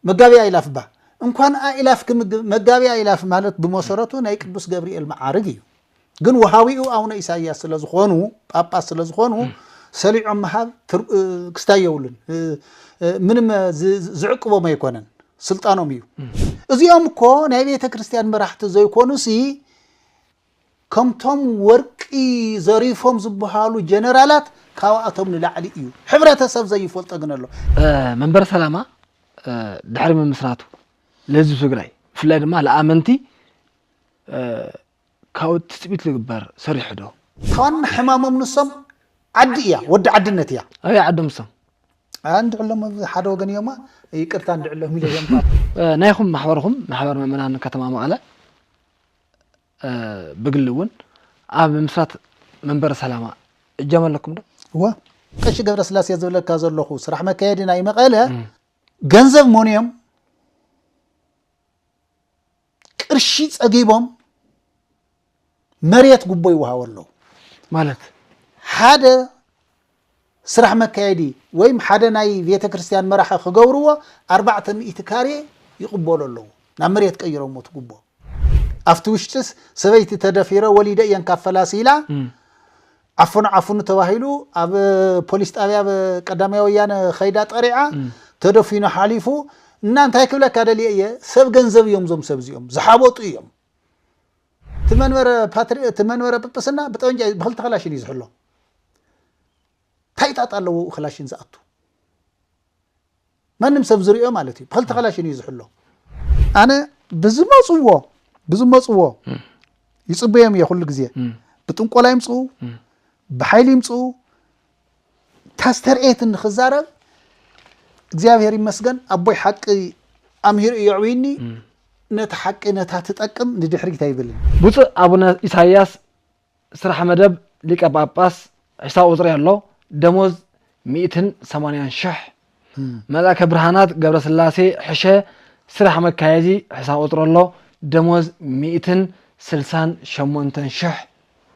መጋቢ ኣእላፍ እባ እንኳን ኣእላፍ ክምግብ መጋቢ ኣእላፍ ማለት ብመሰረቱ ናይ ቅዱስ ገብርኤል መዓርግ እዩ ግን ውሃዊኡ ኣውነ ኢሳያስ ስለዝኾኑ ጳጳስ ስለዝኾኑ ሰሊዖም ምሃብ ክስታይ የብሉን ምንም ዝዕቅቦም ኣይኮነን ስልጣኖም እዩ እዚኦም እኮ ናይ ቤተ ክርስቲያን መራሕቲ ዘይኮኑ ሲ ከምቶም ወርቂ ዘሪፎም ዝብሃሉ ጀነራላት ካባኣቶም ንላዕሊ እዩ ሕብረተሰብ ዘይፈልጦ ግን ኣሎ። መንበረ ሰላማ ድሕሪ ምምስራቱ ለህዝቢ ትግራይ ብፍላይ ድማ ለኣመንቲ ካብኡ ትፅቢት ልግበር ሰሪሑ ዶ? እታ ዋና ሕማሞም ንሶም ዓዲ እያ ወዲ ዓድነት እያ። ኣበይ ዓዶም ንሶም? እንድዕሎም ኣብ ሓደ ወገን እዮም ይቅርታ እንድዕሎም ኢለ እየ እምበር። ናይኹም ማሕበርኹም ማሕበር ምእመናን ከተማ መቐለ ብግሊ እውን ኣብ ምምስራት መንበረ ሰላማ እጃም ኣለኩም ዶ? እወ ቀሺ ገብረስላሴ ዝብለካ ዘለኹ ስራሕ መካየዲ ናይ መቐለ ገንዘብ ሞንዮም ቅርሺ ጸጊቦም መሬት ጉቦ ይወሃቦ ኣለዉ ማለት ሓደ ስራሕ መካየዲ ወይም ሓደ ናይ ቤተ ክርስትያን መራሒ ክገብርዎ ኣርባዕተ ሚእቲ ካሬ ይቅበሉ ኣለዉ ናብ መሬት ቀይረሞ እቲ ጉቦ ኣብቲ ውሽጢስ ሰበይቲ ተደፊረ ወሊደ እየን ካብ ፈላሲ ኢላ ዓፍኑ ዓፍኑ ተባሂሉ ኣብ ፖሊስ ጣብያ ቀዳማይ ወያነ ከይዳ ጠሪዓ ተደፊኑ ሓሊፉ እና እንታይ ክብለካ ደልየ እየ ሰብ ገንዘብ እዮም ዞም ሰብ እዚኦም ዝሓበጡ እዮም እቲ መንበረ ፓትሪ እቲ መንበረ ጵጵስና ብጠበንጃ እዩ ብክልተ ክላሽን እዩ ዝሕሎ እንታይ ጣጣ ኣለዎ ክላሽን ዝኣቱ ማንም ሰብ ዝሪኦ ማለት እዩ ብክልተ ክላሽን እዩ ዝሕሎ ኣነ ብዝመፅዎ ብዝመፅዎ ይፅበዮም እየ ኩሉ ግዜ ብጥንቆላ ይምፅኡ ብሓይሊ ይምፅኡ ተስተርእየትኒ ክዛረብ እግዚኣብሔር ይመስገን ኣቦይ ሓቂ ኣምሂሩ እዩ ኣዕብይኒ ነቲ ሓቂ ነታ ትጠቅም ንድሕሪት ኣይብልን ብፁዕ ኣቡነ ኢሳይያስ ስራሕ መደብ ሊቀ ጳጳስ ሒሳብ ቁፅሪ ኣሎ ደሞዝ ሚእትን ሰማንያን ሽሕ መልኣከ ብርሃናት ገብረ ስላሴ ሕሸ ስራሕ መካየዚ ሒሳብ ቁፅሪ ኣሎ ደሞዝ ሚእትን ስልሳን ሸሞንተን ሽሕ